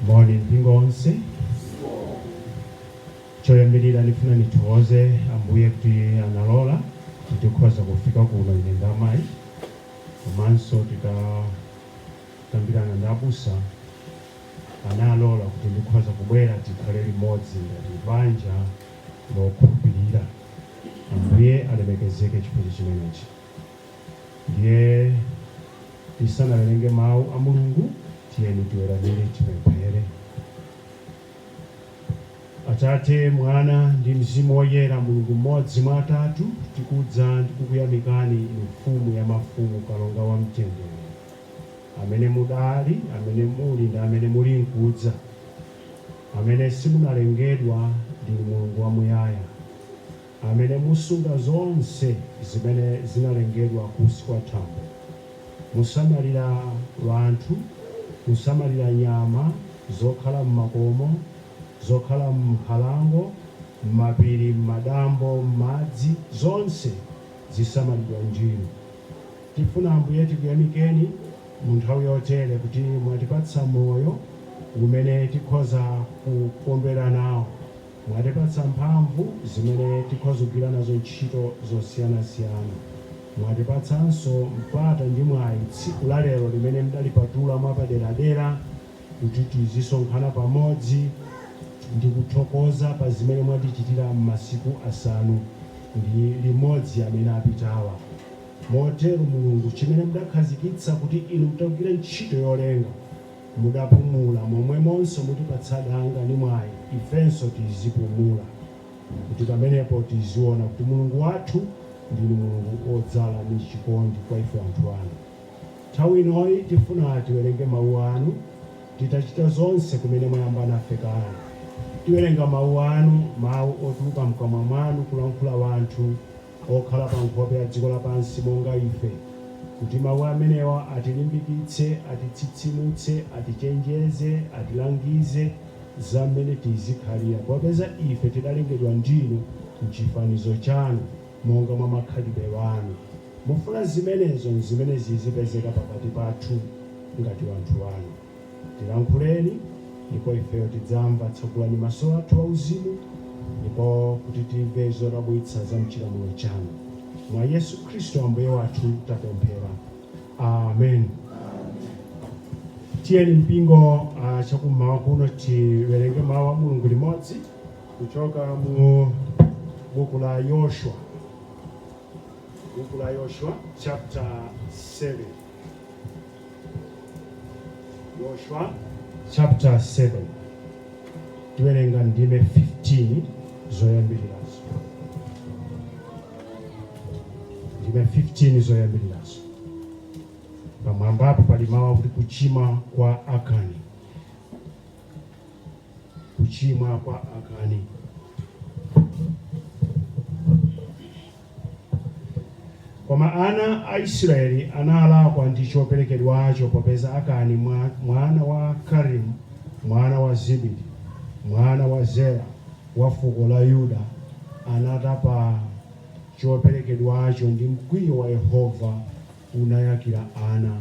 Moni mpingo onse. Choyambirira ndifuna nithokoze Ambuye kuti analola kuti tikhoza kufika kuno ine ndi amayi komanso titakambirana ndi abusa analola kuti ndikhoza kubwera tikhale limodzi ngati banja lokhulupirira. Ambuye alemekezeke chifukwa chimenechi. Ndiye tisanawerenge mawu a Mulungu, tiyeni tiweramire tipemphere. Atate, Mwana ndi Mzimu Woyera, Mulungu mmodzi mwa atatu, tikudza ndi kukuyamikani Inu, Mfumu ya mafumu, Kalonga wa mtendere, amene mudali, amene muli ndi amene muli nkudza, amene simunalengedwa, ndinu Mulungu wamuyaya. amene musunga zonse zimene zinalengedwa kunsi kwa thambo, musamalira wanthu, musamalira nyama zokhala m'makomo, zokhala m'nkhalango, m'mapiri, m'madambo, m'madzi, zonse zisamalidwa ndinu. Tifuna, Ambuye, tikuyamikeni mu nthawi yotere kuti mwatipatsa moyo umene tikhoza kukondwera nawo. Mwatipatsa mphamvu zimene tikhoza kugwira nazo ntchito zosiyanasiyana. Mwatipatsanso mpata ndi mwayi tsiku la lero limene mudalipatula mwapaderadera kuti tizisonkhana pamodzi ndi kuthokoza pa zimene mwatichitira m'masiku asanu ndi limodzi amene apitawa. Motero Mulungu, chimene mudakhazikitsa kuti inu mutagwira ntchito yolenga. mudapumula, momwemonso mutipatsa danga ndi mwayi ifenso tizipumula, kuti pamenepo tiziona kuti Mulungu wathu ndinu Mulungu wodzala ndi chikondi kwa ife wanthu anu. Nthawi inoyi tifuna tiwerenge mawu anu titachita zonse kumene mwayamba nafe kale. Tiwerenga mawu anu, mawu otuluka mkamwa mwanu kulankhula wanthu. okhala pa nkhope ya dziko lapansi monga ife, kuti mawu amenewa atilimbikitse, atitsitsimutse, atichenjeze, atilangize za mmene tizikhalira, popeza ife tidalengedwa ndinu m'chifanizo chanu, monga mwa makhalidwe anu. Mufuna zimenezo nzimene zizipezeka pakati pathu ngati wanthu anu. Tilankhuleni, ndipo ifeyo tidzamva, tsegulani maso athu auzimu, ndipo kuti timve zodabwitsa za m'chilamulo chanu. Mwa Yesu Khristu Ambuye wathu tapemphera. Amen. Tiyeni mpingo chakummawa kuno tiwerenge mawu a Mulungu limodzi kuchoka mu buku la Yoshua, buku la Yoshua chapter 7. Yoshua chapter 7 tiwerenga ndime 15 zoyambirirazo ndime 15 zoyambirirazo pamwamba apo pali mawu akuti kuchimwa kwa akani kuchimwa kwa akani Koma ana a Israyeli analakwa ndi coperekedwaco, popeza Akani mwana wa Karimi, mwana wa Zibidi, mwana wa Zera, wa fuko la Yuda, anatapa coperekedwaco, ndi mkwiyo wa Yehova unayakira ana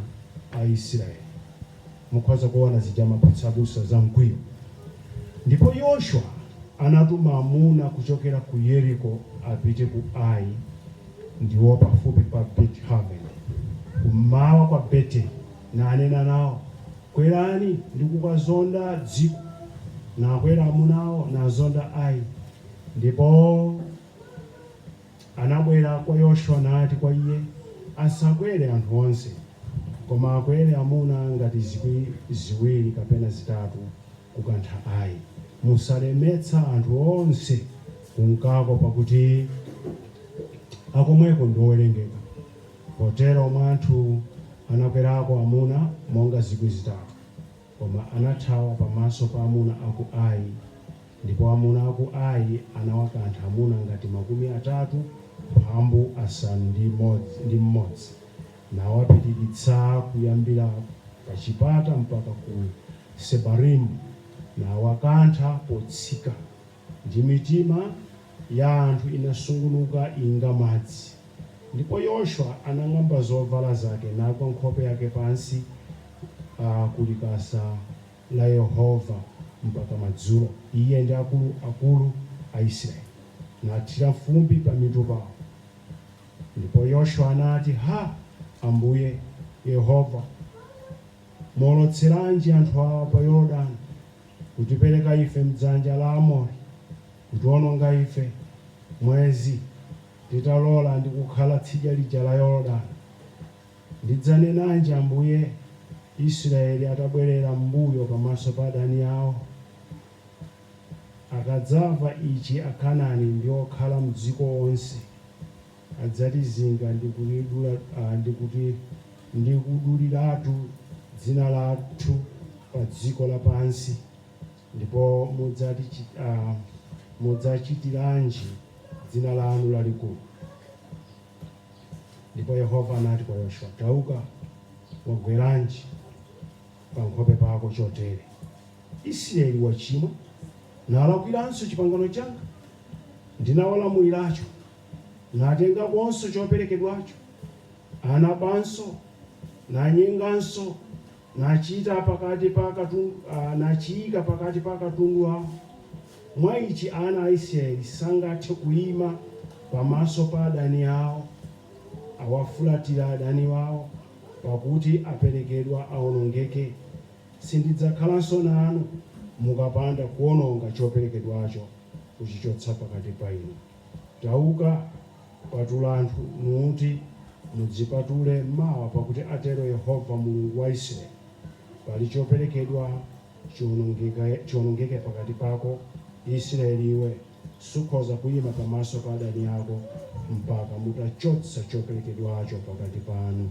a Israyeli. mukhoza kuona zija amapatsa abusa za mkwiyo. Ndipo Yoshua anatuma amuna kuchokera ku Yeriko apite ku Ai, ndiwo pafupi pa Beti-Haveni, kum'mawa kwa Beteli, nanena nao, Kwerani ndi kukazonda dziko. Nakwera amunawo, nazonda Ai. Ndipo. Anabwera kwa Yoshua nati kwa iye, Asakwere anthu onse, koma akwere amuna ngati zikwi ziwiri kapena zitatu kukantha Ai. Musalemetsa anthu onse kunkako, pakuti akomweko ndi owerengeka. Potero mwa anthu anakwerako amuna monga zikwi zitatu. Koma anathawa pamaso pa amuna a ku Ai, ndipo amuna a ku Ai anawakantha amuna ngati makumi atatu mphambu asanu ndi mmodzi, nawapirikitsa kuyambira pachipata mpaka ku Sebarimu, nawakantha potsika. Ndi mitima ya anthu inasungunuka inga madzi. Ndipo Yoshua anang'amba zobvala zake nagwa nkhope yake pansi ku likasa la Yehova mpaka madzulo, iye ndi akulu akulu a Israyeli, nathira mfumbi pamitu pao. Ndipo Yoshua anati, Ha, Ambuye, Yehova, mwaolotseranji anthu awa pa Yorodano? kutipereka ife m'dzanja la Aamori, kutiononga ife, mwezi titalola ndi kukhala tsidya lija la Yorodani? Ndidzanenanji, Ambuye, Israyeli atabwerera m'mbuyo pamaso pa adani ao? Akadzamva ici Akanani ndi okhala m'dziko onse. adzatizinga ndi kulidula, ndi kuti, ndi kuduliratu dzina lathu pa dziko lapansi, ndipo mudzati, Mudzachitiranji dzina lanu lalikulu? Ndipo Yehova anati kwa Yoshua, Tauka, wagweranji pankhope pako chotere? Israeli wachimwa, nalakwiranso chipangano changa ndinawalamuliracho. natengakonso choperekedwacho, anabanso, nanyenganso, nachita pakati pa akatundu, a, nachiika pakati pa akatundu awo, mwa ichi ana a Israeli sangathe kuima pamaso pa adani awo, awafulatira adani awo, pakuti aperekedwa aonongeke, sindidzakhalanso nanu mukapanda kuononga choperekedwacho kuchichotsa pakati pa inu. Tauka, patula anthu, nuti, Mudzipatule mawa, pakuti atero Yehova Mulungu wa Israeli, Pali choperekedwa chionongeke pakati pako, Israeli iwe, sukhoza kuima pamaso pa adani ako, mpaka mutachotsa choperekedwacho pakati panu.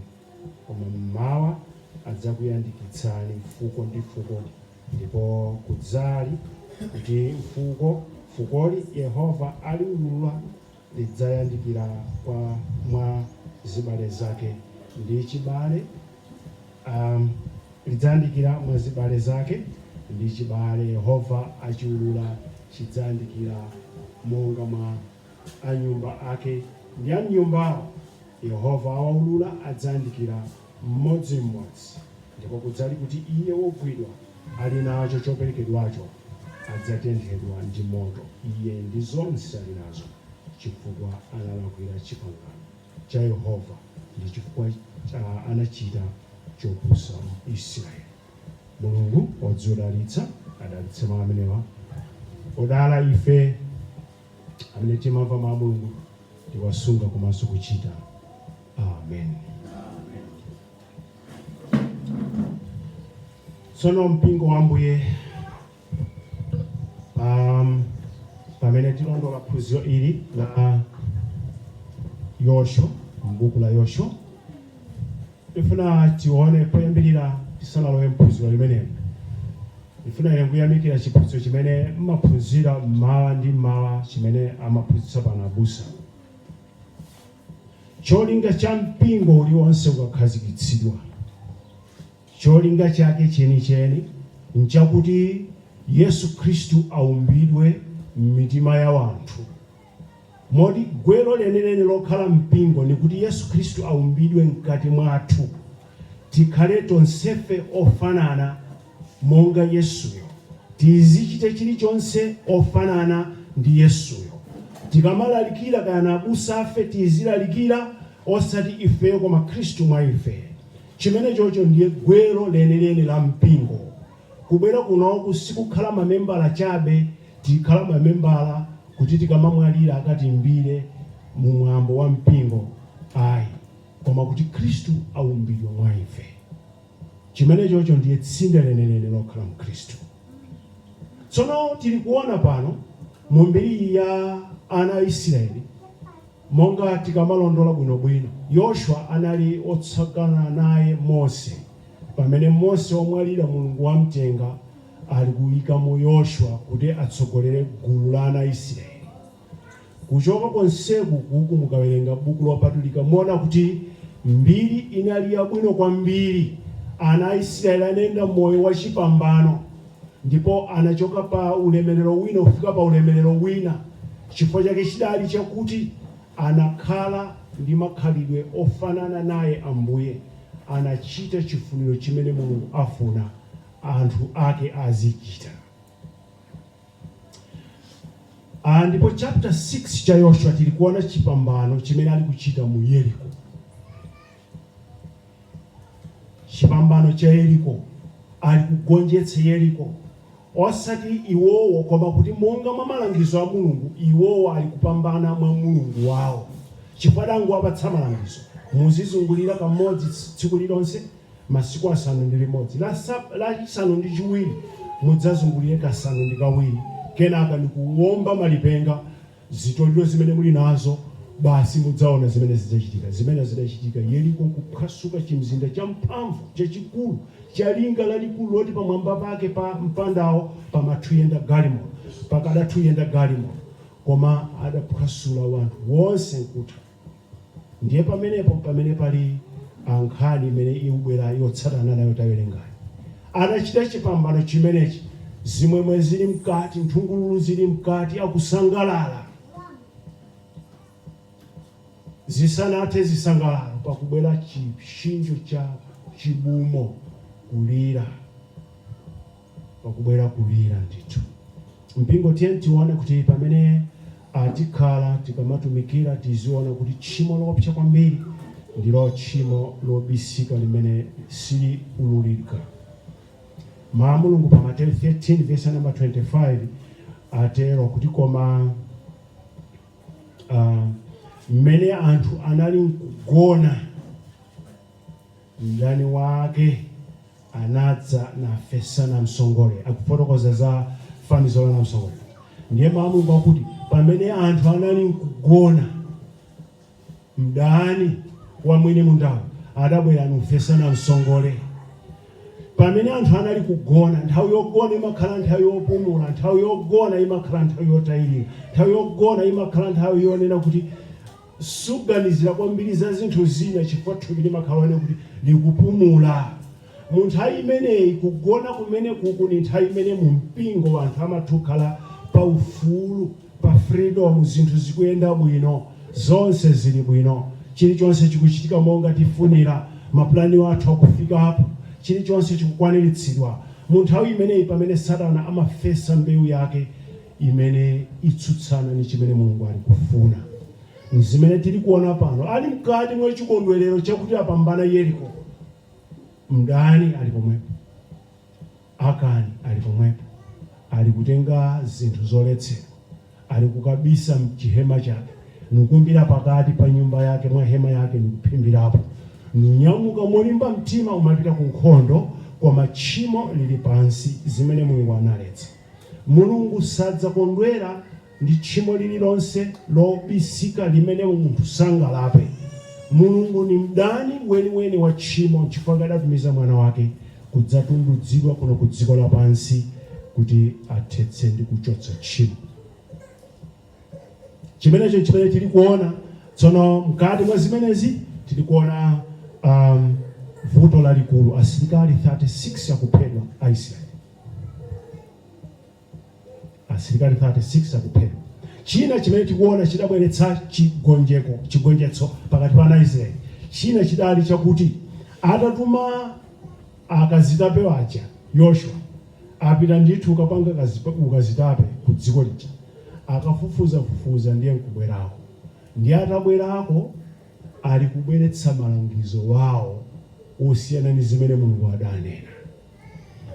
Koma m'mawa adzakuyandikitsani fuko ndi fuko, ndipo kudzali, kuti fuko, fukoli Yehova aliulula, lidzayandikira kwa mwa zibale zake, ndi chibale, a, lidzayandikira mwa zibale zake, ndi chibale Yehova achiulula chidzayandikira monga mwa. a nyumba ake ndi a m'nyumbawo, Yehova awaulula, adzayandikira mmodzi mmodzi, ndipo kudzali kuti iye wogwidwa ali nacho choperekedwacho adzatenthedwa ndi moto, iye ndi zonse ali nazo, chifukwa analakwira chipangano cha Yehova, ndi chifukwa anachita chopusa mu Isiraeli. Mulungu odziodalitsa adalitse mau amenewa. Odala ife. amene timamva mau a Mulungu tiwasunga komanso kuchita. Amen. Tsono mpingo wa Ambuye um, pamene tilondola phunziro ili la Yoshua m'buku la Yoshua Ndifuna tione poyambilira tisanalowe muphunziro limeneli. Ndifuna ine kuyamikira chiphunziro chimene mmaphunzira mmawa ndi mmawa chimene amaphunzitsa pano abusa. Cholinga cha mpingo uliwonse ukakhazikitsidwa, cholinga chake chenicheni nchakuti Yesu Khristu aumbidwe mmitima ya wanthu Moti gwelo lenileni lokhala mpingo nikuti Yesu Khristu aumbidwe mkati mwathu, tikhale tonsefe ofanana monga Yesuyo, tizichite chilichonse ofanana ndi Yesuyo. Tikamalalikira kaya na abusafe tizilalikira osati ifeyo koma Khristu mwa ife. Chimenechocho ndiye gwelo lenileni la mpingo. Kubwera kunoku sikukhala mamembala chabe, tikhala mamembala kuti tikamamwalira akatiimbire mu mwambo wa mpingo ayi, koma kuti Khristu aumbidwe mwa ife. Chimenechocho ndiye tsinde lenileni lokhala mu Khristu. Tsono tili kuona pano mu mbiriyi ya ana a Isiraeli. Monga tikamalondola bwinobwino, Yoshua anali otsagana naye Mose, pamene Mose wamwalira Mulungu wamtenga ali kuikamo Yoshua kuti atsogolere gulu la ana Isirayeli. Kuchoka konseku kuku mukawerenga Buku Lopatulika muona kuti mbiri inali yabwino kwambiri, ana Isirayeli anayenda moyo wachipambano. Ndipo anachoka pa ulemelero wina kufika pa ulemelero wina, chifukwa chake chidali chakuti anakhala ndi makhalidwe ofanana naye Ambuye, anachita chifuniro chimene Mulungu afuna anthu ake azichita. Ndipo chapter 6 cha Yoshua tili kuona chipambano chimene ali kuchita mu Yeriko. chipambano cha Yeriko, ali kugonjetsa Yeriko, osati iwowo, koma kuti monga mwa malangizo a Mulungu iwowo ali kupambana mwa Mulungu wawo, chifukwa adangowapatsa malangizo, Muzizungulira kamodzi tsiku lilonse masiku asanu ndi limodzi, la chisanu ndi chiwiri mudzazungulire kasanu ndi kawiri, kenaka ndikuwomba malipenga. zitoliro zimene muli nazo, basi mudzaona zimene zidzachitika, zimene zidachitika, Yeriko kuphwasuka, chimzinda champhamvu, chachikulu, cha linga lalikulu loti pamwamba pake pa mpandawo pamathuyenda galimoto, pakadathu yenda galimoto, koma adaphwasula wanthu wonse nkutha. Ndiye pamenepo mpamene pali a, nkhani imene iubwera yotsatana nayo tawerengayo. Anachita chipambano chimenechi, zimwemwe zili mkati, nthungululu zili mkati, akusangalala. Zisanathe zisangalalo, pakubwera chipsinjo cha chibumo, kulira. pakubwera kulira ndithu. Mpingo tiyeni tione kuti pamene a, tikhala, tikamatumikira tiziona kuti tchimo loopsa kwambiri ndilo tchimo lobisika limene sili ululika. Mau a Mulungu pa Mateyu 13 vesi ya namba 25 atero kuti koma a, m'mene anthu anali mkugona, Mdani wake anadza nafesa namsongole. Akufotokoza za fanizo la namsongole. Ndiye Mau a Mulungu akuti pamene anthu anali nkugona, mdani wa mwini mundawo adabwera nufesa namsongole. Pamene anthu anali kugona, nthawi yogona imakhala nthawi yopumula, nthawi yogona imakhala nthawi yotayilira, nthawi yogona imakhala nthawi yonena kuti Suganizira kwambiri za zinthu zina chifukwa thupi limakhala lonena kuti likupumula. Mu nthawi imeneyi, kugona kumenekuku ndi nthawi imene mu mpingo anthu amatha kukhala pa ufulu, pa freedom, zinthu zikuyenda bwino, zonse zili bwino, chilichonse chikuchitika monga tifunira, ma plan athu akufikapo, chilichonse chikukwaniritsidwa. Mu nthawi imeneyi m'pamene Satana amafesa mbeu yake. imene itsutsana ni chimene Mulungu ali kufuna. N'zimene tili kuona pano. Ali mkati mwa chikondwerero chakuti apambana Yeriko, mdani ali pomwepo. Akani ali pomwepo, ali kutenga zinthu zoletsedwa. Ali kukabisa m'chihema chake, nukumbira pakati pa nyumba yake mwa hema yake nukuphimbirapo, nunyamuka molimba mtima umapita kunkhondo, koma tchimo lili pansi, zimene Mulungu analetsa. Mulungu sadzakondwera ndi tchimo lililonse lobisika limene munthu sangalape. Mulungu ni mdani weniweni wa tchimo n'chifukwa chake adatumiza Mwana wake kudzatundudzidwa kuno ku dziko lapansi kuti athetse ndi kuchotsa tchimo. Chimenecho n'chimene tili kuona tsono. Mkati mwa zimenezi tili kuona um, vuto lalikulu, asilikali 36 akuphedwa Aisraeli. asilikali 36 akuphedwa. China chimene tikuona chidabweretsa chigonjeko chigonjetso pakati pa ana Israeli china chidali chakuti atatuma akazitape waja Yoshua apita ndithu kukapanga ukazitape ku dziko lija akafufuza fufuza ndiye nkubwerako ndiye atabwerako ali kubweretsa malangizo wawo osiyana ndi zimene Mulungu adanena.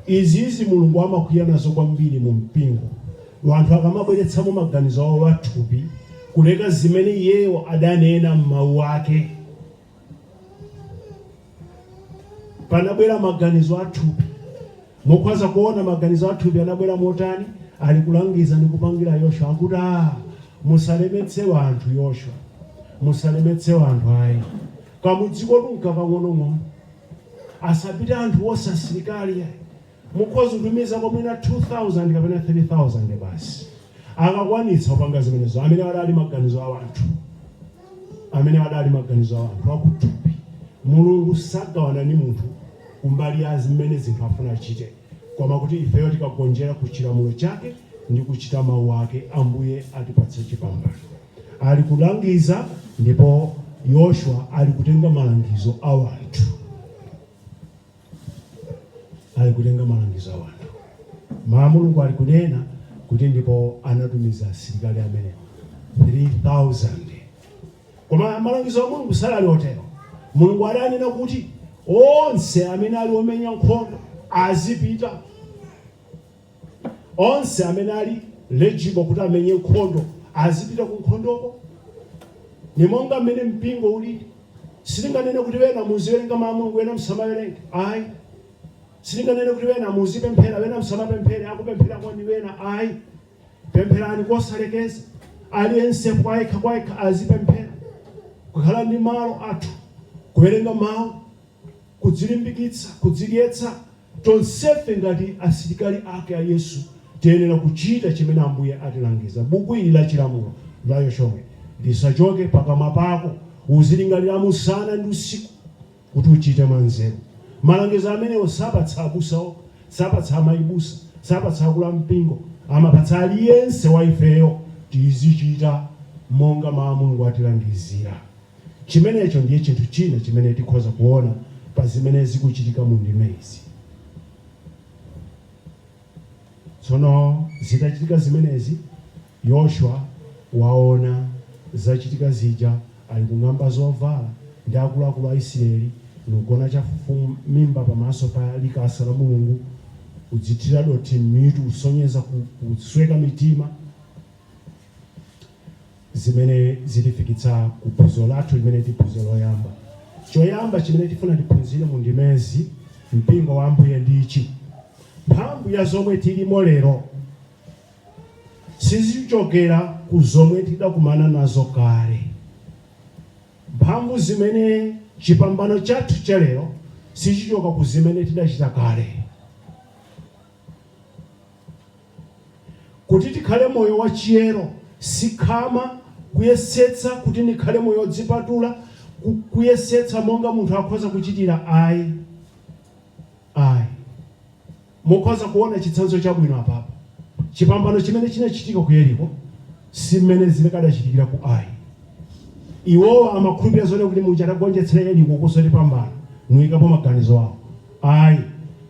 Izizi Mulungu amakwiya nazo kwambiri mu mpingo wanthu akamabweretsamo maganizo awo a thupi kuleka zimene iyeyo adanena m'mawu ake. Panabwera maganizo a thupi. Mukhoza kuona maganizo a thupi anabwera motani? Ali kulangiza ndi kupangira Yoshwa akuti a musalemetse wanthu Yoshwa musalemetse wanthu ayi. Kamudzikotu nkakang'onong'ono. Asapite anthu onse asilikali ayi. Mukhoza kutumizako mwina 2,000 kapena 3,000 basi. Akakwanitsa kupanga zimenezo, amene adali maganizo a wanthu, amene adali maganizo a wanthu akuthupi. Mulungu sagawana ni munthu kumbali ya zimene zinthu afuna achite, koma kuti ifeyo tikagonjera ku chilamulo chake ndi kuchita mawu ake, Ambuye atipatse chipambano. Ali kulangiza ndipo Yoshua ali kutenga malangizo a wanthu. Ali kutenga malangizo a wanthu. Ma Mulungu ali kunena kuti ndipo anatumiza asilikali amene 3,000. Koma malangizo a Mulungu sali otero. Mulungu adanena kuti onse amene ali omenya nkhondo azipita Onse amene ali eligible kuti amenye nkhondo azipita ku nkhondoko. Ni monga mmene mpingo uli. Sitinganene kuti ena muziwelenga Mau a Mulungu, ena musamawelenge. Ayi. Sitinganene kuti ena muzipemphela, ena musamapemphele, akupemphelako ni ena. Ayi. Pemphelani kosalekeza. Aliyense kwayekha-kwayekha azipemphela. Kukhala ndi malo athu, kuwelenga Mau. kudzilimbikitsa, kudzidyetsa. Tonsefe ngati asilikali ake a Yesu, tiyenera kuchita chimene Ambuye atilangiza. Buku ili la chilamulo, la Yoshua, lisachoke pakamwa pako. Uzilingiriramo usana ndi usiku, kuti uchite mwanzeru. Malangizo amenewo sapatsa abusa okha, sapatsa amayi busa, sapatsa akulu a mpingo. Amapatsa aliyense wa ifeyo. Tizichita monga Mawu a Mulungu atilangizira. Chimenecho ndiye chinthu china chimene tikhoza kuona pa zimene zikuchitika mu ndimezi. Tsono zitachitika zimenezi, Yoshua waona zachitika zija, alikung'amba zovala, ndi akuluakulu a Isiraeli, nugona chafufumimba pamaso pa likasa la Mulungu, udzithira dothi m'mitu kusonyeza kusweka mitima. zimene zitifikitsa ku phunziro lathu limene ndi phunziro loyamba. Choyamba chimene tifuna tiphunzire mu ndimezi, mpingo wa Ambuye ndi ichi, mphamvu ya zomwe tilimo lero sizichokera ku zomwe tidakumana nazo kale. Mphamvu zimene chipambano chathu cha lero sichichoka ku zimene tidachita kale. Kuti tikhale moyo wa chiyero si khama, kuyesetsa kuti ndikhale moyo odzipatula, ku, kuyesetsa monga munthu akhoza kuchitira ayi. Ayi. Mukhoza kuona chitsanzo chabwino apapa. Chipambano chimene chinachitika ku Yeriko si m'mene zikadachitikira ku Ai. Iwowa amakhulupirira zonena kuti muja tagonjetsera Yeriko kunso tipambana, nuikapo maganizo awo. Ayi.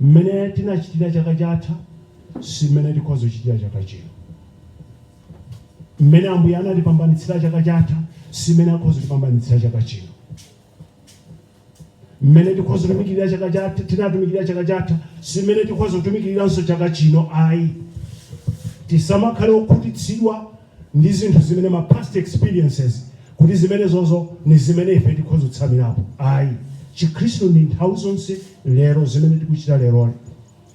M'mene tinachitira chaka chatha. si mmene tikhoza kuchitira chaka chino. Mmene Ambuye anatipambanitsira chaka chatha, si mmene akhoza kutipambanitsira chaka chino. Mmene tikhoza kutumikirira chaka chatha, tinatumikirira chaka chatha, si mmene tikhoza kutumikiriranso chaka chino ayi. Tisamakhale okhutitsidwa ndi zinthu zimene ma past experiences kuti zimenezozo ni zimene ife tikhoza kutsamirapo ayi. Chikhristu ndi nthawi zonse lero, zimene tikuchita leroli.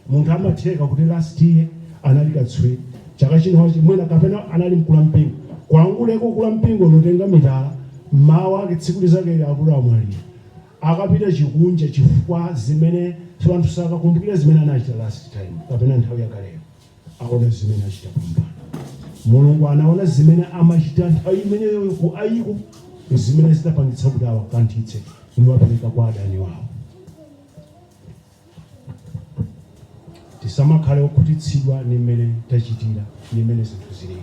Munthu amatheka kuti last year anali katswiri, chaka chino wachimwa kapena anali mkulu wa mpingo, kwanguleko kula mpingo nutenga mitala, mmawa ake tsiku linzakeli akuti amwalira, akapita chikunja chifukwa zimene anthu sakakumbukira zimene anachita last time kapena nthawi yakaleyo, aona zimene achita pompano. Mulungu anaona zimene amachita nthawi imeneyoyo ku Aiko nzimene zidapangitsa kuti awakanthitse nuwapereka kwa adani wawo. Tisamakhale okhutitsidwa ndi mmene tachitira ndi mmene zinthu zili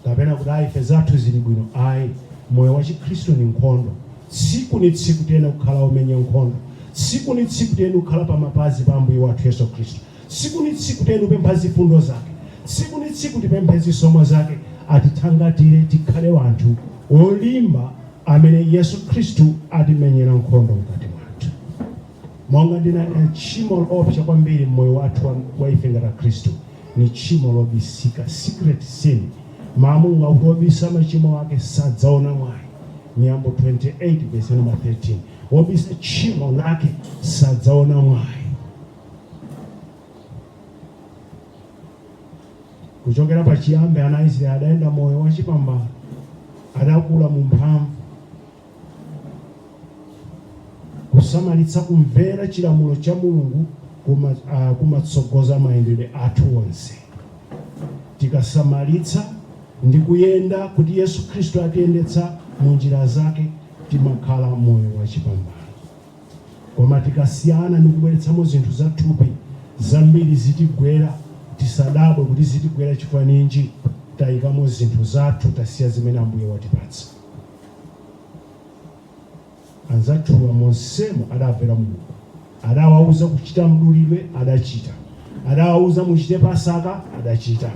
kapena kuti ayi ife zathu zili bwino ayi. Moyo wa chikhristu ndi nkhondo. Tsiku ni tsiku tiyenera kukhala omenya nkhondo. Tsiku ni tsiku tiyenera kukhala pa mapazi pa Ambuye wathu Yesu Khristu. Tsiku ni tsiku tiyenera kupempha zifundo zake. Tsiku ni tsiku tipemphe zisomo zake atithangatire tikhale wanthu olimba amene Yesu Khristu atimenyera nkhondo mkati mwathu. monga ndinanena tchimo loopsa kwambiri mmoyo wathu wa- wa ife ngati akhristu ni tchimo lobisika secret sin mau a mulungu akuti wobisa machimo ake sadzaona mwayi miyambo 28 verse number 13 wobisa tchimo lake sadzaona mwayi kuchokera pachiyambi ana aisraeli adayenda moyo wachipambano adakula mu mphamvu kusamalitsa kumvera chilamulo cha mulungu ah, kumatsogoza uh, mayendedwe athu onse tikasamalitsa ndi kuyenda kuti yesu khristu atiyendetsa mu njira zake timakhala moyo wachipambano koma tikasiyana ndi kubweretsamo zinthu zathupi zambiri zitigwera tisadabwe kuti zitigwera chifukwa ninji tayikamo zinthu zathu tasiya zimene ambuye watipatsa anzathuwa monsemo adamvera mulungu adawauza kuchita mdulidwe adachita adawauza muchite pasaka adachita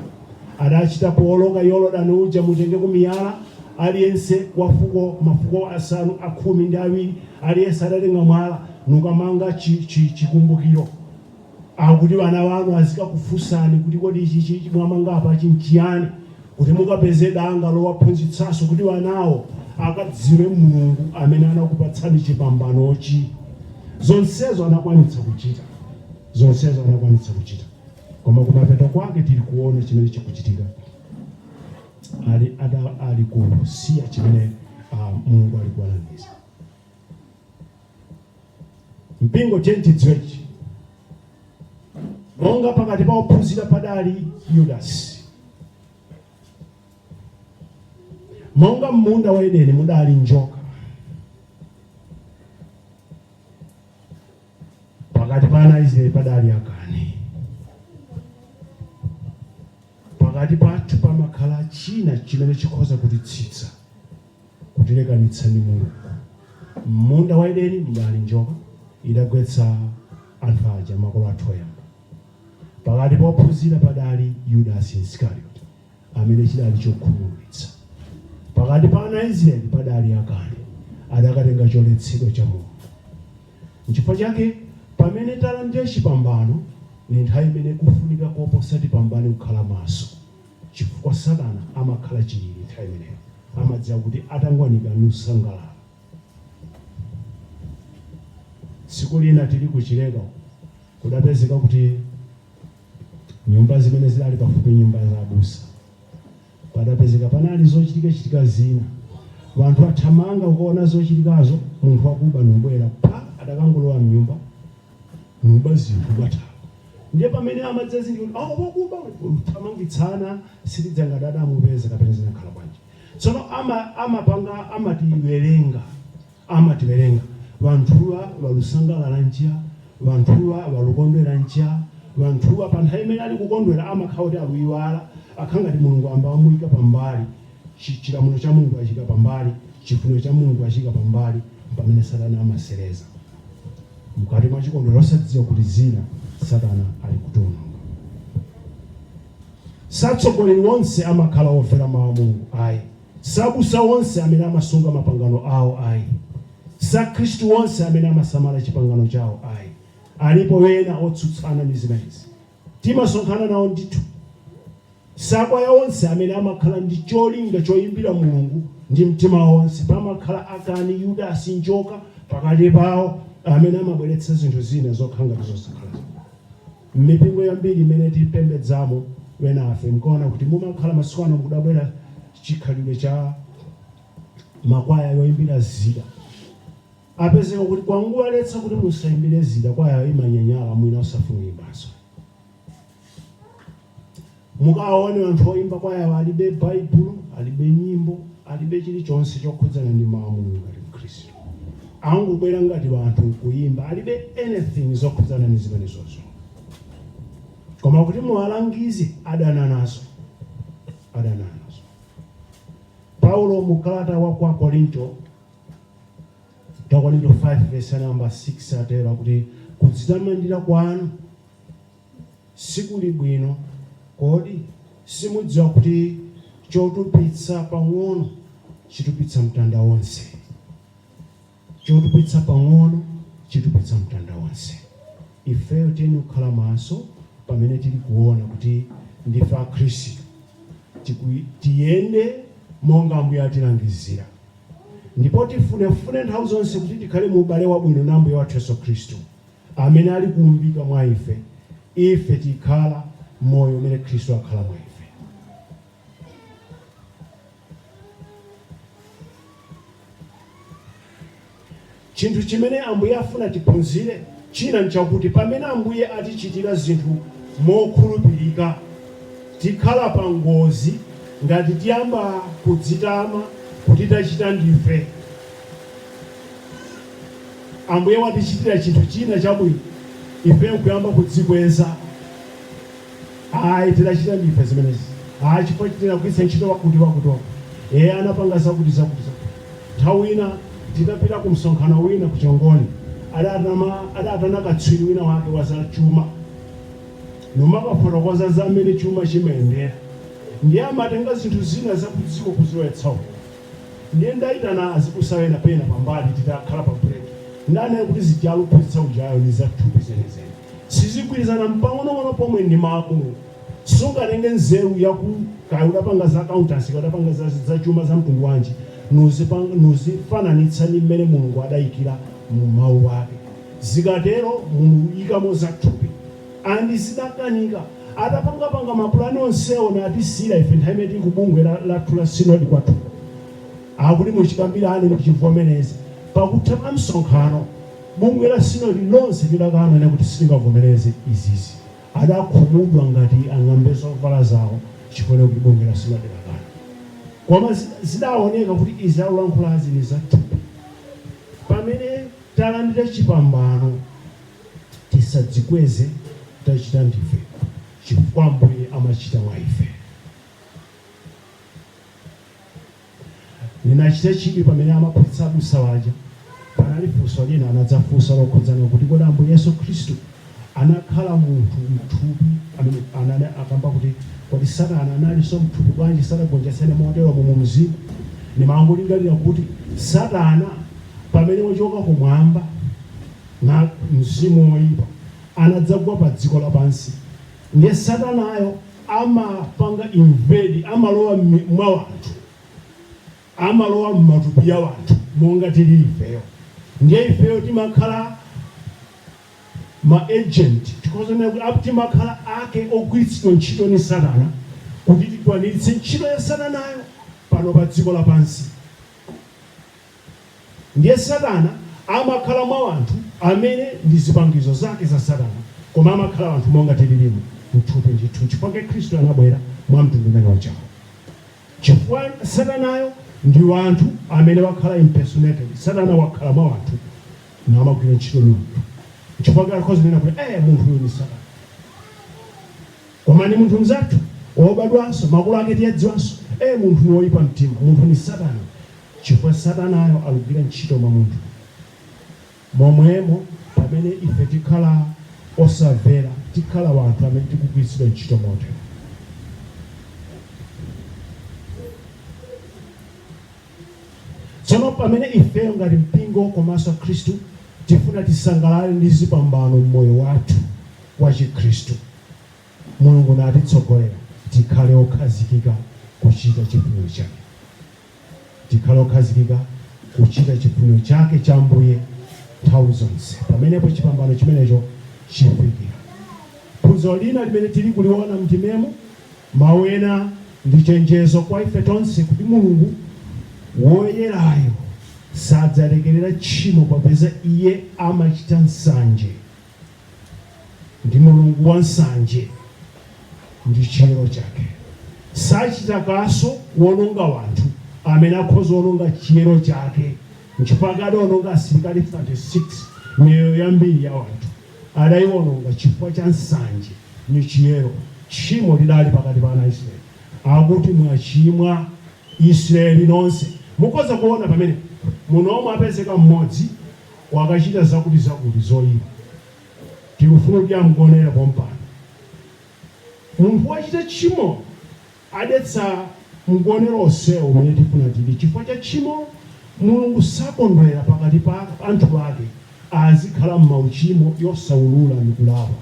adachita powoloka yorodani uja mutenge kumiyala aliyense wa fuko mafuko asanu a khumi ndi awiri aliyense adatenga mwala nukamanga chi- chi- chikumbukiro Akuti bana banu azikakufunsani kuti kodi ichi chichi mwamanga apa chinchiyani kuti mukapeze danga lowaphunzitsanso kuti banawo akadziwe Mulungu amene anakupatsani chipambanochi. Zonsezo anakwanitsa kuchita. Zonsezo anakwanitsa kuchita. Koma kumapeto kwake tili kuona chimene chikuchitika. Ali ada ali kusiya chimene a, Mulungu ali kuwalangiza. mpingo. Tiyeni tidziwe ichi, monga pakati pa ophunzira padali Yudasi, monga m'munda wa Edeni mudali njoka, pakati pa ana a Israeli padali akani, pakati pathu pamakhala china chimene chikhoza kutitsitsa kutilekanitsa ndi Mulungu. M'munda wa Edeni mudali njoka, idagwetsa anthu aja, makolo athu oyamba. Pakati pa ophunzira padali Yudasi Isikarioti, amene chidali chokhumudwitsa. Pakati pa ana a Israeli padali Akani, adakatenga choletsedwa cha Mulungu. Nchifukwa chake pamene talandira chipambano, ndi nthawi imene kufunika koposa tipambane kukhala maso. chifukwa satana amakhala chilili nthawi imeneyo amadziwa kuti atangwanika nusangalala tsiku lina tili ku chileka uko kudapezeka kuti nyumba zimene zidali pafupi nyumba za abusa padapezeka panali zochitika chitika zina wanthu athamanga kuona zochitikazo munthu wakuba nubwera pa adakangolowa mnyumba kuba zinthu kuthawa ndiye pamene amadzazindikira kuti awo wakuba kuthamangitsana sitidziwa ngati adamupeza kapena zinakhala bwanji tsono ama, amapanga amatiwerenga amatiwerenga vanthuwa valusangalala nja vanthuwa valukondwera nja vanthuwa pa nthawi imene ali kukondwera amakhala kuti aluyiwala akhala ngati mulungu amba amuyika pambali Chi- chilamulo cha mulungu achiika pambali chifuniro cha mulungu achiika pambali mpamene satana amasereza mkati mwa chikondwero osadziwa kuti zina satana ali kutiononga satsogoleri onse amakhala omvera mawu a mulungu ayi sabusa onse amene amasunga mapangano awo ayi sakhristu onse amene amasamala chipangano chawo ayi alipo ena otsutsana ndi zimenezi Timasonkhana nawo ndithu. Sakwaya onse amene amakhala ndi cholinga choimbira Mulungu ndi mtima wonse, pamakhala akani, Yudasi, njoka, pakati pawo amene amabweretsa zinthu zina zokhala ngati zosakhala zabwino. M'mipingo yambiri imene tipembedzamo enafe mkaona kuti mumakhala masiku ano kudabwera chikhalidwe cha makwaya yoimbira zida. Apezeka kuti kungowaletsa kuti musaimbire zida kwaya imanyanyala mwina osafuna kuyimbanso mukawawone anthu oyimba kwayawa alibe baibulo alibe nyimbo alibe chilichonse chokhudzana ndi mau a Mulungu ngati mkhristu angobwera ngati wanthu nkuyimba alibe anything zokhudzana ndi zimenezozo koma kuti muwalangize adana nazo adana nazo Paulo mu kalata wa kwa Korinto Akorinto 5 vesi ya namba 6 atero kuti kudzitamandira kwanu sikuli bwino kodi? Simudziwa kuti chotupitsa pang'ono chitupitsa mtanda wonse? Chotupitsa pang'ono chitupitsa mtanda wonse. Ifeyo tiyenera kukhala maso pamene tili kuona kuti ndife a Khristu. Tiku, tiyende monga Ambuye atilangizira. Ndipo tifunefune nthawi zonse kuti tikhale mu ubale wabwino na Ambuye wathu Yesu Khristu, amene ali kuumbika mwa ife, ife tikhala m'moyo umene Khristu akhala mwa ife. Chinthu chimene Ambuye afuna tiphunzire china n'chakuti pamene Ambuye atichitira zinthu mokhulupirika, tikhala pa ngozi ngati tiyamba kudzitama kuti tachita ndife. Ambuye watichitira chinthu china chabwino, ife n'kuyamba kudzikweza. Ayi, tinachita ndife zimenezi. Ayi, chifukwa tinagwiritsa ntchito wakuti-wakuti wakuti. Iye anapanga zakuti, zakuti, zakuti. Nthawi ina tinapita ku msonkhano wina ku Chongoni, adatama, adatana katswiri wina wake wa za chuma numakafotokoza za m'mene chuma chimayendera. Ndiye amatenga zinthu zina za ku dziko kuzilowetsa uko. Ndiye ndaitana azibusa ena pena pambali titakhala pa break ndanena kuti zija aluphunzitsa ujayo ni za thupi zenizeni. Sizigwirizana mpang'onong'ono pomwe ndi mau. Sungatenge nzeru ya ku kaya udapanga za accountancy kaya udapanga za za chuma za mtundu wanji nuzipang nuzifananitsa ni mmene Mulungu adaikira mu mau ake. Zikatero muluikamo za thupi. And zidakanika. Atapanga panga ma plan onsewo natisiira ife nthawi imene tili ku bungwe lathu la synod kwathuko. Akuti muchikambirane muchivomereze. Pakutha pa msonkhano bungwe la synod lonse lidakanena kuti sitingavomereze izizi. Adakhumudwa ngati ang'ambe zovala zawo chifukwa kuti bungwe la synod lakana. Koma zidaoneka kuti izi akulankhulazi ni za thupi. Pamene talandira chipambano. tisadzikweze tachita ndife chifukwa Ambuye amachita mwa ife. Ninachita chidwi pamene amaphunzitsa abusa waja panali funso lina anadzafunsa lokhudzana kuti kodi Ambuye Yesu Khristu anakhala munthu mthupi amene anane akamba kuti kodi satana analinso mthupi bwanji sadagonjetsene motero mu mzimu nimangolingalira kuti satana pamene wachoka kumwamba Na mzimu woipa anadzagwa pa dziko lapansi, ndiye satanayo amapanga invade, amalowa mmi, mwa anthu, amalowa mmatupi ya wanthu monga tilili ifeyo, ndiye ifeyo timakhala ma agent, tikhoza kunena kuti a, timakhala ake ogwiritsidwa ntchito ni satana kuti tikwaniritse ntchito ya satanayo pano pa dziko lapansi. Ndiye Satana amakhala mwa wanthu amene ndi zipangizo zake za Satana, koma amakhala wanthu monga tililimu, mthupi ndithu. Nchifukwa chake Khristu anabwera mwa mtundu umene ujawu. Chifukwa Satanayo ndi wanthu amene wakhala impersonated. Satana wakhala mwa wanthu namagwira ntchito ndi wanthu. Nchifukwa chake akhoza kunena kuti, Eh, munthu uyu ndi Satana. Koma ndi munthu mzathu, wobadwanso, makolo ake tiyadziwanso. Eh, munthu uyu woyipa mtima. Munthu ndi Satana. Chifukwa satanayo alugwira ntchito mwa munthu, momwemo pamene ife tikhala osamvera, tikhala wanthu amene tikugwiritsidwa ntchito motero. Tsono pamene ifeyo ngati mpingo komanso akhristu tifuna tisangalale ndi zipambano mmoyo wathu wa chikhristu, Mulungu natitsogolera, tikhale okhazikika kuchita chifuniro chake. tikhale okhazikika kuchita chifuniro chake cha Ambuye nthawi zonse. Pamenepo chipambano chimenecho chifikira. Phunziro lina limene tili kuliona m'ndimemo mawu ena ndi chenjezo kwa ife tonse kuti Mulungu woyerayo sadzalekerera tchimo popeza iye amachita nsanje. ndi mulungu wa nsanje ndi chiyero chake sachita kaso kuononga wanthu amene akhoza ononga chiyero chake nchifukwa adaononga asilikali 36 miyoyo yambiri ya wanthu adaiononga chifukwa cha nsanje ni chiyero tchimo lidali pakati pa ana israeli akuti mwachimwa israeli nonse mukhoza kuona pamene muno omwe apezeka mmodzi wakachita zakuti zakuti zoipa tikufuna kuti ya mgonero pompano. Munthu wachita tchimo adetsa mgonero onsewo umene tifuna tili chifukwa cha tchimo Mulungu sakondwera pakati pa anthu ake azikhala m'mauchimo yosaulula ndi kulapa.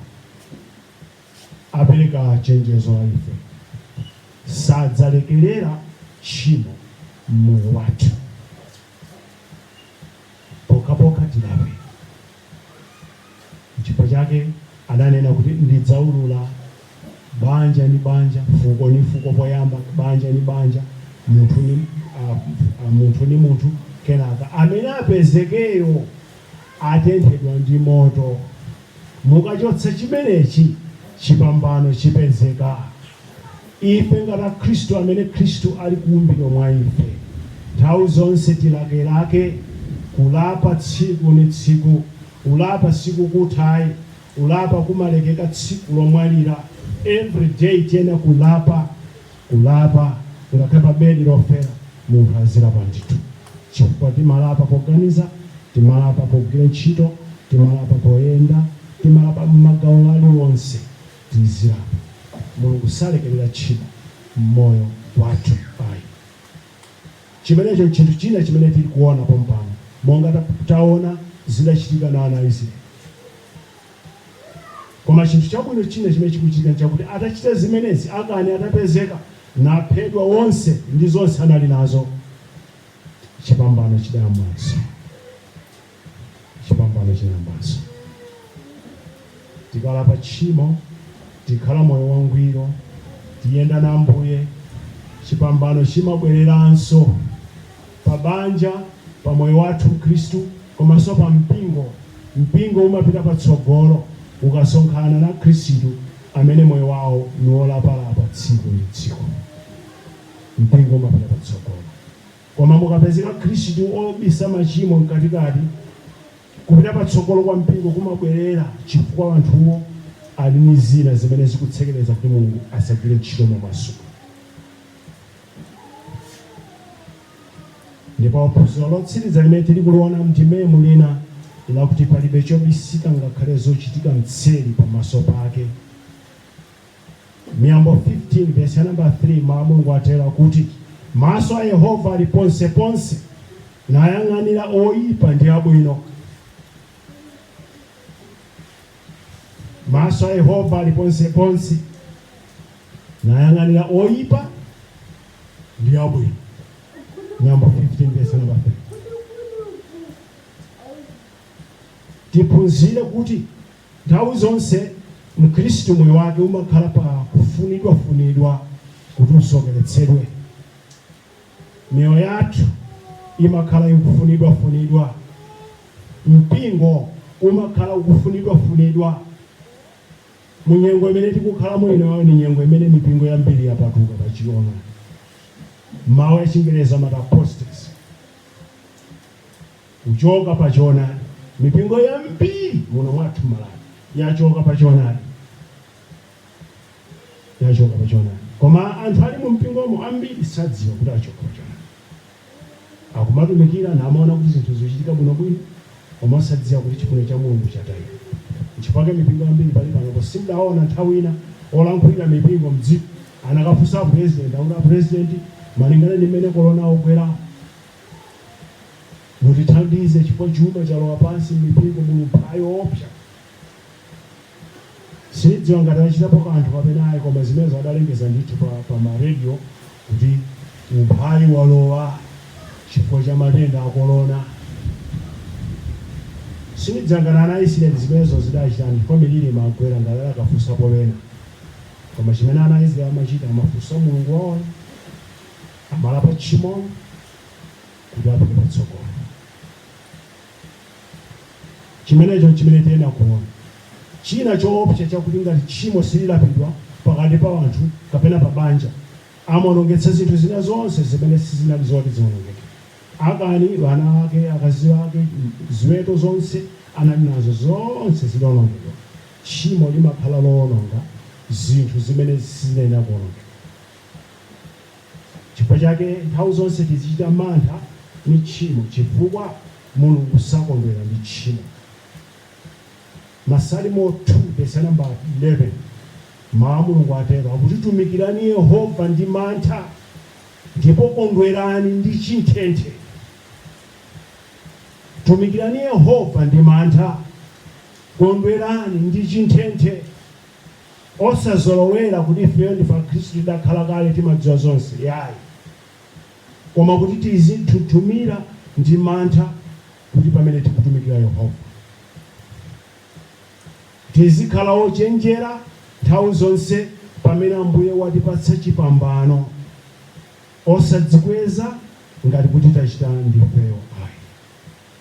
Apereka chenjezo kwa ife sadzalekerera tchimo m'moyo wathu. pokhapokha tilape. Nchifukwa chake adanena kuti ndidzaulula banja ni banja, fuko ni fuko, poyamba banja ni banja, munthu ni ah, ah, munthu ni munthu, kenaka amene apezekeyo atenthedwa ndi moto. Mukachotsa chimenechi, chipambano chipezeka. Ife ngati Akhristu amene Khristu ali kuumbidwa mwa ife, nthawi zonse tilakelake kulapa tsiku ni tsiku. Kulapa sikukutha ayi, kulapa kumalekeka tsiku lomwalira. Every day tiyenera kulapa, kulapa. Ngakhale pa bedi lofera munthu azilapa ndithu, chifukwa timalapa poganiza, timalapa pogwira ntchito, timalapa poyenda, timalapa m'magawo aliwonse. tizilapa. Mulungu salekelera tchimo mmoyo wathu ayi. Chimenecho nchinthu china chimene tili kuona pompano monga taona zidachitika na ana a Israeli. Koma chinthu chabwino china chimene chikuchitika nchakuti atachita zimenezi Akani atapezeka naphedwa wonse ndi zonse anali nazo, chipambano chidayambanso. chipambano chinayambanso. Tikalapa tchimo, tikhala moyo wangwiro, tiyenda na Ambuye, chipambano chimabwereranso pa banja, pa moyo wathu wa Chikhristu, komanso pa mpingo. Mpingo umapita patsogolo ukasonkhana na Akhristu amene moyo wawo ni wolapalapa tsiku ndi tsiku. Mpingo umapita patsogolo. Koma mukapezeka Akhristu obisa machimo mkatikati, kupita patsogolo kwa mpingo kumabwerera chifukwa anthuwo ali ndi zina zimene zikutsekereza kuti Mulungu asagwire ntchito momasuka. Ndipo phunziro lotsiriza limene tili kuliona m'ndimemu lina lakuti palibe chobisika ngakhale zochitika mtseri pamaso pake. Miyambo 15 vesi ya namba 3 Mawu a Mulungu atere akuti, Maso a Yehova ali ponseponse, nayang'anira oipa ndi abwino. Maso a Yehova ali ponseponse, nayang'anira oipa ndi abwino. Miyambo 15 vesi ya namba 3 tiphunzire kuti Nthawi zonse Mkhristu moyo wake umakhala pa kufunidwa funidwa kuti usokeretsedwe. Miyoyo yathu imakhala ikufunidwa funidwa. Mpingo umakhala ukufunidwa funidwa. Mu nyengo imene tikukhalamo inoyo ndi nyengo imene mipingo yambiri yapatuka pa choona. Mawu a chingerezi amati apostasy. kuchoka pa choona. Mipingo yambiri muno mwathu m'Malawi yachoka pa choona. Koma anthu ali mu mpingomo ambiri sadziwa kuti achoka pa choona, akumatumikira namaona kuti zinthu zikuchitika bwinobwino, koma osadziwa kuti chifuniro cha Mulungu chatayika. Nchifukwa mipingo yambiri pali panopo simudaona nthawi ina olankhulira mipingo mdziko anakafunsa president akuti a president, malingana ndi mmene korona wagwera, Mutithandize chifukwa chuma chalowa pansi m'mipingo muli umphawi woopsa. Sindidziwa ngati achitapo kanthu kapena ayi koma zimenezo adalengeza ndithu pa, pa ma radio kuti umphawi walowa chifukwa cha matenda a korona. Sindidziwa ngati ana a Isiraeli zimenezo zidachitani chifukwa miliri imagwera ngati adakafunsapo ena. Koma chimene ana a Isiraeli amachita amafunsa Mulungu wawoyo. amalapa tchimo kuti apite patsogolo chimenecho chimene tiyenera kuona china choopsa chakuti ngati tchimo sililapidwa pakati pa anthu kapena pa banja amaonongetsa zinthu zina zonse zimene sizinali zoti zionongeke Akani wana ake akazi ake ziweto zonse anali nazo zonse zinaonongedwa tchimo limakhala loononga zinthu zimene sizinayenera kuonongeka Chifukwa chake nthawi zonse tizichita mantha ni tchimo, chifukwa Mulungu sakondwera ndi tchimo. Masalimo 2 vesi nambala 11 Mawu a Mulungu atero kuti, Tumikirani Yehova ndi mantha, ndipo kondwerani ndi chinthenthe. Tumikirani Yehova ndi mantha, kondwerani ndi chinthenthe. Osazolowera kuti ifeyo ndife akhristu tidakhala kale timadziwa zonse yayi koma kuti tizinthunthumira ndi mantha kuti pamene tikutumikira Yehova. Tizikhala ochenjera nthawi zonse pamene Ambuye watipatsa chipambano. Osadzikweza ngati kuti tachita ndifeyo ayi.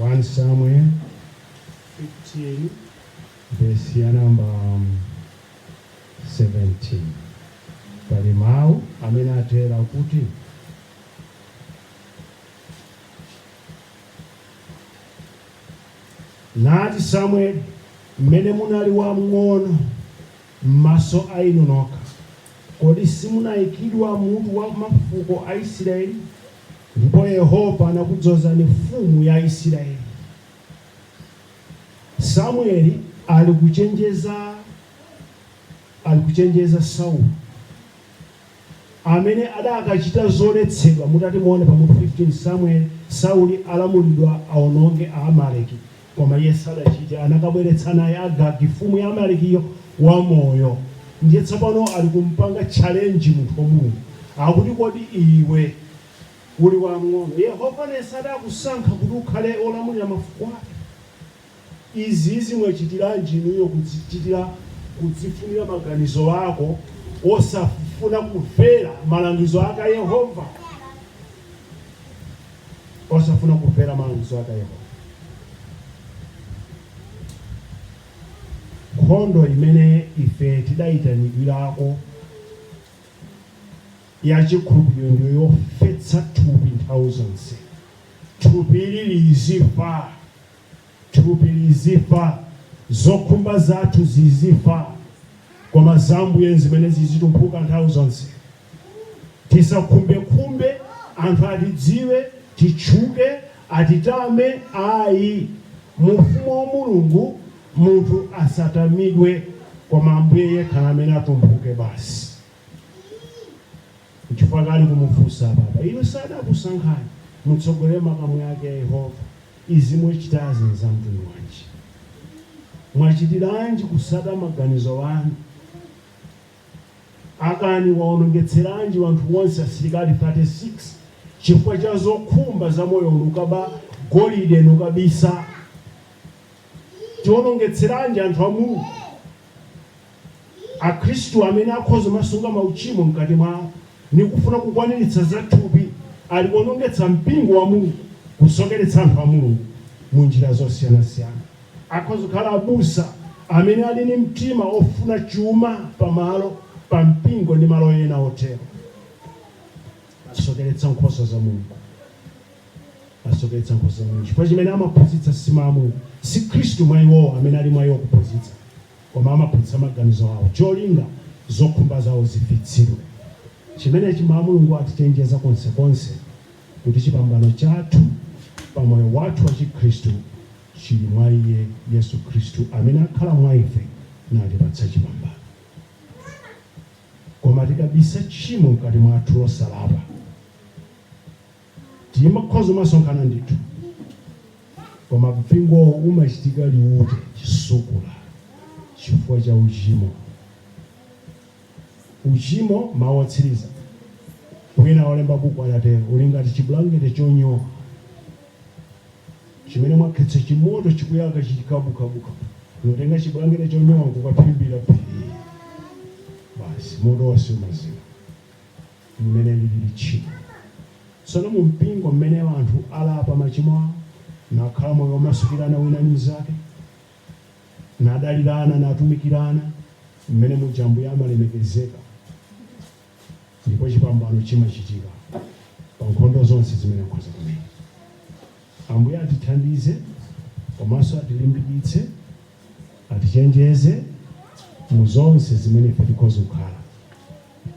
1 Samuel 15 vesi ya namba 17 pali mawu amene atero kuti nati samueli mmene munali wamng'ono m'maso a inu nokha kodi simunayikidwa mutu wa mafuko a isiraeli ndipo Yehova anakudzozani mfumu ya Isiraeli. Samueli ali kuchenjeza ali kuchenjeza Sauli amene adakachita zoletsedwa mutati muone pa mutu 15 Samueli Sauli alamulidwa aononge Aamaleki. Koma iye sadachite, anakabweretsa naye Agagi, mfumu ya Amaleki'yo, wamoyo. Ndiye tsopano ali kum'panga challenge munthu wa Mulungu. Akuti, Kodi iwe uli wamng'ono. Yehova sadakusankha kuti ukhale wolamulira mafuko ake. Izizi mwachitiranji inuyo kudzichitira, kudzifunira maganizo ako, osafuna kumvera malangizo ake Yehova? osafuna kumvera malangizo ake Yehova. Nkhondo imene ife tidayitanidwirako ya chikhulupiriro ndiyo yofetsa thupi nthawi zonse, thupi ili lizifa. Thupi lizifa, zokhumba zathu zizifa, koma za Ambuye n'zimene zizitumphuka nthawi zonse. Tisakhumbekhumbe anthu atidziwe, titchuke, atitame, ayi. Mu Ufumu wa Mulungu munthu asatamidwe, koma Ambuye yekha n'amene atumphuke basi. Nchifukwa ake ali kumufunsa apapa. Inu sadakusankhani mutsogolere makamu ake a Yehova? Izi mwachitazi nzamtundu wanji? Mwachitiranji kutsata maganizo anu? Akani waonongetseranji wanthu wonse asilikali 36 chifukwa cha zokhumba za moyo uno, nukaba golide nukabisa? Tionongetseranji anthu a Mulungu? Akhristu amene akhoza kumasunga mauchimo mkati mwao ni kufuna kukwaniritsa za thupi ali kuonongetsa mpingo wa Mulungu, kusokeretsa anthu a Mulungu mu njira zosiyanasiyana. Akhoza kukhala abusa amene ali ni mtima ofuna chuma pa malo, pa mpingo ndi malo ena otero. Asokeretsa nkhosa za Mulungu. Asoketsa nkhosa zawo chifukwa chimene amaphunzitsa si Mawu a Mulungu, si Khristu mwa iwowo amene ali mwa iwo kuphunzitsa, koma amaphunzitsa maganizo awo, cholinga zokhumba zawo zifitsidwe. Chimenechi Mawu a Mulungu atichenjeza konsekonse kuti chipambano chathu pa moyo wathu wa chikhristu chili mwa Iye, Yesu Khristu, amene akhala mwa ife natipatsa chipambano. Koma tikabisa tchimo mkati mwathu losalapa, Timakhoza kumasonkhana ndithu koma mpingowo umachitika liwute chisukula chifukwa cha uchimo uchimo mawu otsiriza wina olemba buku adatero uli ngati chibulangete chonyowa chimene mwakhetsa chimoto chikuyaka chikabukabuka n'kutenga chibulangete chonyowa kukaphimbira phi basi moto wonse umazima mmene lilili tchimo. Tsono mu mpingo mmene anthu alapa machimo ao, nakhala moyo womasukirana wina ndi mnzake, nadalirana, natumikirana, mmene muja Ambuye amalemekezeka, ndipo chipambano chimachitika pa nkhondo zonse zimene akhoza kumenya. Ambuye atithandize komanso atilimbikitse, atichenjeze mu zonse zimene ife tikhoza kukhala.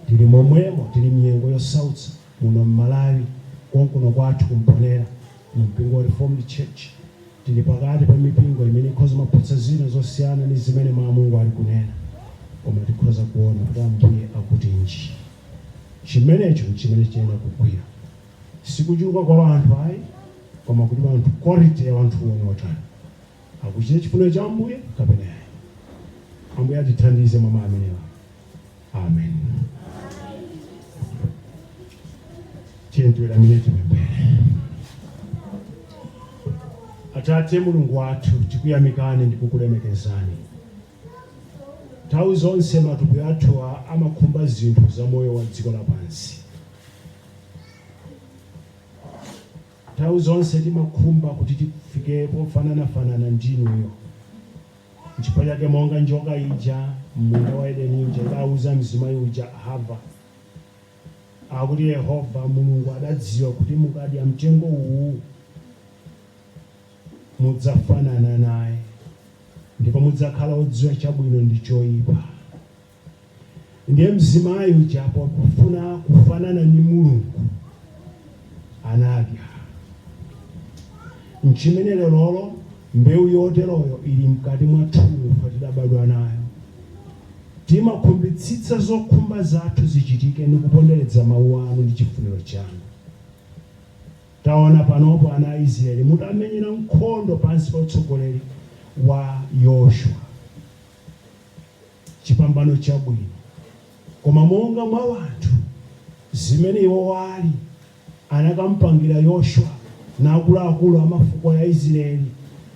Tili momwemo tili mnyengo yosautsa muno mmalawi konkuno kwathu ku mponela mu mpingo wa reformed church tili pakati pa mipingo imene ikhoza maphunzitsa zina zosiyana ndi zimene Mau a Mulungu ali kunena koma tikhoza kuona kuti ambuye akutinji chimenecho chimene chiyenera kugwira sikuchuluka kwa wanthu ayi koma kuti wanthu quality ya wanthuwo ni otani akuchita chifuniro cha Ambuye kapena ayi. Ambuye atithandize mwa mawu amenewa. Amen. Tiyeni tiweramire tipemphere. Atate Mulungu wathu, tikuyamikani ndi kukulemekezani. Nthawi zonse matupi athu a- amakhumba zinthu za moyo wa dziko lapansi. Nthawi zonse timakhumba kuti tifike pofananafanana ndi inuyo. N'chifukwa chake monga njoka ija m'munda wa Edeni ija idauza mzimayi uja, Hava, akuti Yehova Mulungu adadziwa kuti mukadya mtengo uwu, mudzafanana naye, ndipo mudzakhala odziwa chabwino ndi choipa. Ndiye mzimayi uja pakufuna kufanana ndi Mulungu anadya. Nchimene lerolo mbewu yoteroyo iri mkati mwathumu, ife tidabadwa nayo. Timakhumbitsitsa zokhumba zathu zichitike ndi kuponderedza Mawu Anu ndi chifuniro Chanu. Taona panopo ana a Israeli mutamenyera nkhondo pansi pa utsogoleri wa Yoshua. chipambano chabwino, koma monga mwa wanthu, zimene iwo wali, anakampangira Yoshua na akulu akulu a mafuko ya Israeli,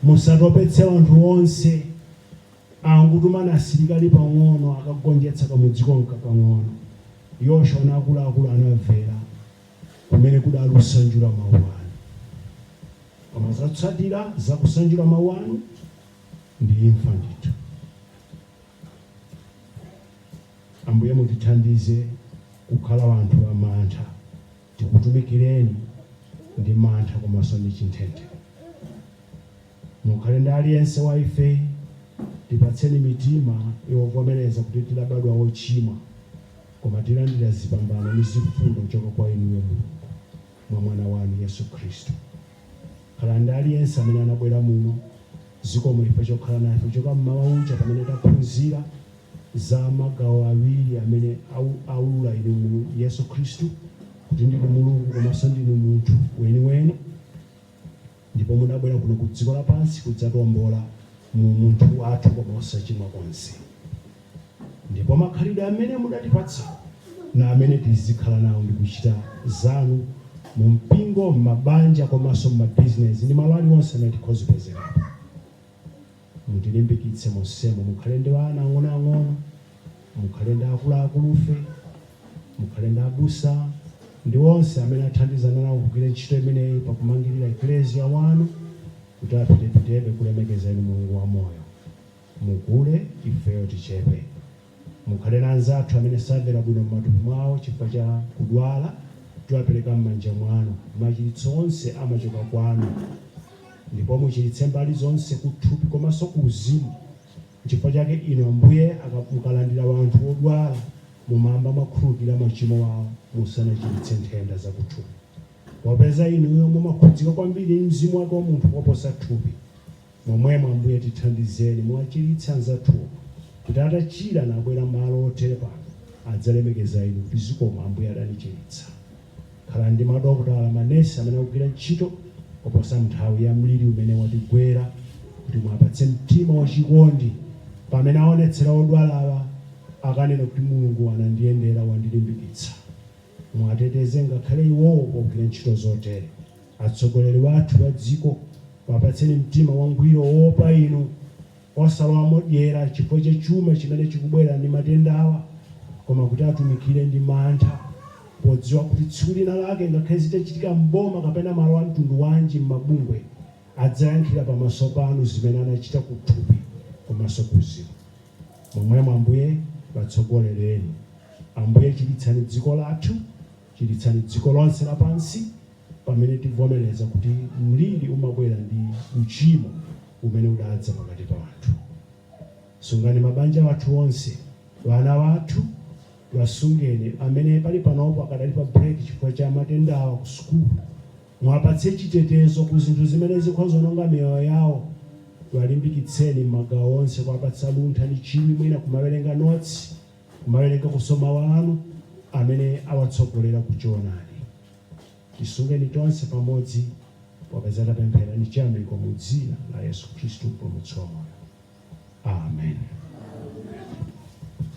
Musatopetse wanthu wonse, angotumani asilikali pang'ono akagonjetsa kamudzi komka kang'ono. Yoshua na akulu akulu anamvera, kumene kudali kusanjula mau anu. Koma zotsatira za kusanjula mau anu? ndi imfa ndithu. Ambuye mutithandize kukhala wanthu a mantha, tikutumikireni ndi mantha komanso ndi chinthenthe. Mukhale ndi aliyense wa ife, tipatseni mitima yovomereza kuti tidabadwa ochimwa koma tilandira zipambano ndi zifundo kuchoka kwa inuyo Mulungu. mwa Mwana wanu, Yesu Khristu. Khala ndi aliyense amene anabwera muno, zikomo chifukwa chokhala nafe kuchoka mmawa uja pamene taphunzira za magawo awiri amene aulula inu mu Yesu Khristu kuti ndinu Mulungu komanso ndinu munthu weniweni. Ndipo mudabwera kuno ku dziko lapansi kudzatiombola mu umunthu wathu koma osachimwa konse. Ndipo makhalidwe amene mudatipatsa ndiwo amene tizikhala nawo ndi kuchita zanu mu mpingo, m'mabanja komanso m'mabizinezi ndi malo aliwonse amene tikhozipezerapo. Mutilimbikitse monsemo. Mukhale ndi ana ang'onoang'ono, mukhale ndi akuluakulufe, mukhale ndi abusa ndi onse amene athandizana nawo kugwira ntchito imeneyi pa kumangirira Eklesia wanu kuti apitepitebe kulemekeza inu Mulungu wamoyo. Mukule, ifeyo tichepe. Mukhale na anzathu amene samvera bwino m'matupi mwawo chifukwa cha kudwala, tiwapereka m'manja mwanu. Machiritso onse amachoka kwanu. Ndipo muchiritse mbali zonse, kuthupi komanso kuuzimu. Chifukwa chake inu Ambuye, mukalandira wanthu wodwala, mumayamba mwakhululukira machimo awo musanachiritse nthenda zakuthupi. Popeza inuyo mumakhudzika kwambiri ndi mzimu wake wa munthu koposa thupi. Momwemo, Ambuye, tithandizeni, muwachiritse anzathuwo, kuti atachira, nabwera malo otere pano, adzalemekeza Inu, kuti, Zikomo, Ambuye adanichiritsa. Khala ndi madokotala, manesi, amene akugwira ntchito koposa m'nthawi ya mliri umene watigwera, kuti muwapatse mtima wachikondi pamene aonetsera odwalawa, akanena kuti, Mulungu anandiyendera, wandilimbikitsa. Muwateteze ngakhale iwowo pogwira ntchito zotere. Atsogoleri wathu wa dziko wapatseni mtima wangwiro woopa inu, osalowamo dyera chifukwa cha chuma chimene chikubwera ndi matendawa, koma kuti atumikire ndi mantha podziwa kuti tsiku lina lake ngakhale zitachitika m'boma kapena malo a mtundu wanji m'mabungwe adzayankhira pamaso panu zimene anachita kuthupi komanso kuuzimu. Momwemo Ambuye watsogolereni. Ambuye chiritsani dziko lathu Chiritsani dziko lonse lapansi pamene tivomereza kuti mliri umabwera ndi uchimo umene udadza pakati pa anthu. Sungani mabanja athu onse, wana wathu wasungeni amene pali panopo akadali pa break chifukwa cha matendawa ku sukulu. Muwapatse chitetezo ku zinthu zimene zikhonza ononga miyoyo yawo. Walimbikitseni m'magawo onse kuwapatsa luntha ndi chidwi mwina kumawerenga notsi. kumawerengakonso Mawu Anu, amene awatsogolera ku Choonadi. Tisungeni tonse pamodzi, popeza tapemphera ndi chiyamiko mu Dzina la Yesu Khristu, Mpulumutsi wa moyo. Amen.